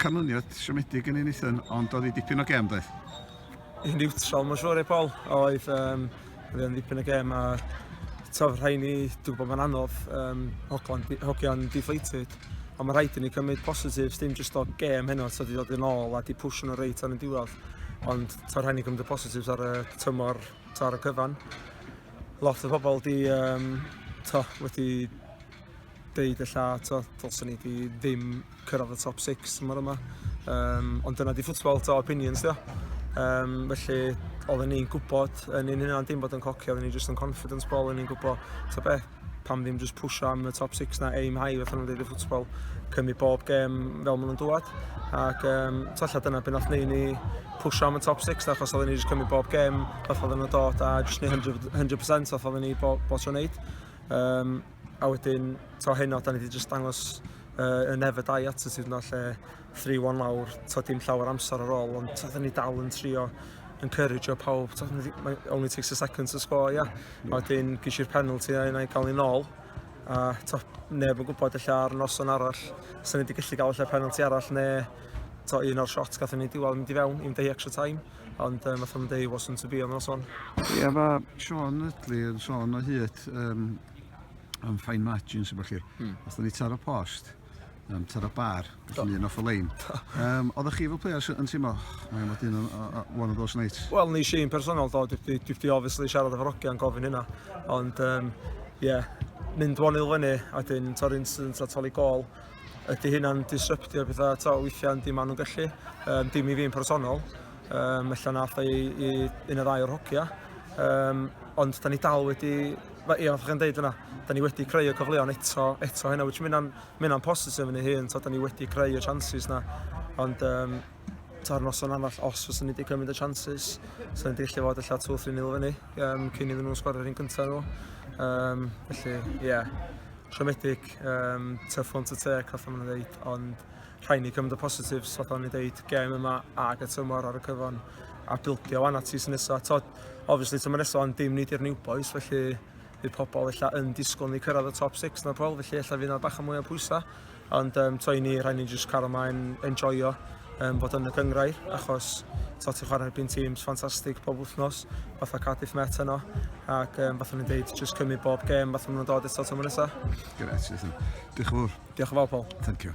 Canlyniad siomedig yn ei nithyn, ond oedd hi dipyn o gem, doedd? Yn niwtral, mae'n siŵr, ei Paul. Oedd, um, oedd e'n dipyn o gem, a tof rhaid ni, dwi'n bod mae'n anodd, um, hogian deflated. Ond mae rhaid i ni cymryd positives, dim jyst o gem heno, so di dod yn ôl a di push nhw reit ar y diwedd. Ond tof rhaid ni cymryd y positives ar y tymor, to ar y cyfan. Lot o bobl di, um, to, wedi deud y lla, to, dylsyn ni di ddim cyrraedd y top 6 tymor yma. Um, ond dyna di ffwtsbol to opinions dio. Um, felly, oedden ni'n gwybod yn un hynna dim bod yn cocio, oedden ni just yn confidence ball, oedden ni'n gwybod, ta be, pam ddim just pusho am y top 6 na aim high, fatha nhw'n dweud y ffwtsbol, cymryd bob gem fel maen nhw'n dwad. Ac um, talla dyna beth nath neud ni pusho am y top 6, na, achos oedden ni just cymryd bob gem, fatha oedden nhw'n dod, a just ni 100%, 100% fatha oedden ni bob, bob tro'n neud. Um, A wedyn, to heno, da ni wedi just dangos uh, y never die attitude yna lle 3-1 lawr, to dim llawer amser ar ôl, ond to ni dal yn trio encourage o pawb, to only takes a second to score, ia. Yeah. A wedyn, gys i'r penalty a yna i gael ei nôl, a to, neb yn gwybod lle ar noson arall, sy'n ni wedi gallu gael lle penalty arall, neu to un o'r shots gathon ni diwal mynd i fewn, 11 extra time. Ond um, fatha mae'n dweud, wasn't to be on noson. Ia, fa Sean Ridley yn sôn o hyd um, am fine margins, efo chi. Hmm. Os ni taro post, um, taro bar, gallwn ni un off y lein. Um, Oeddech chi fel players yn teimlo, mae'n fod un one of those nights? Wel, ni eisiau un personol, do. Dwi wedi obviously siarad efo Rogi a'n gofyn hynna. Ond, um, yeah, mynd one 0 fyny, a dyn torri incident a toli gol. Ydy hynna'n disruptio pethau to weithiau yndi maen nhw'n gallu. Um, dim i fi'n personol. Um, Ella na allai i, i un o ddau o'r hogia. Um, ond da ni dal wedi... Ie, yeah, chi'n dweud yna, da ni wedi creu y cyfleon eto, eto hynna, which mynd o'n positif yn ei hun, so da ni wedi creu y chances na. Ond um, ta'r noson arall, os fyswn ni wedi cymryd y chances, so ni'n gallu fod allan 2-3 nil fyny, um, cyn iddyn nhw'n sgorio'r un cyntaf nhw. Um, felly, ie, yeah. siomedig, um, tough one to take, fatha maen nhw'n dweud, ond rhai ni cymryd y positives, fatha maen nhw'n dweud, gem yma ag y tymor ar y cyfan, a bildio wan at tis nesaf. Tod, obviously, tymor nesaf ond dim nid i'r new boys, felly bydd pobl illa yn disgwyl ni cyrraedd y top 6 na pobl, felly illa fydd yna bach o mwy o pwysau. Ond um, to i ni, rhaid ni jyst cario maen enjoyo um, bod yn y gyngrair, achos to ti'n chwarae erbyn tîms ffantastig pob wythnos, fatha Cardiff Met yno, ac um, fatha ni'n dweud, jyst cymryd bob gêm, fatha nhw'n dod eto tymor nesaf. Gret, Diolch yn fawr. Diolch yn fawr, Paul. Thank you.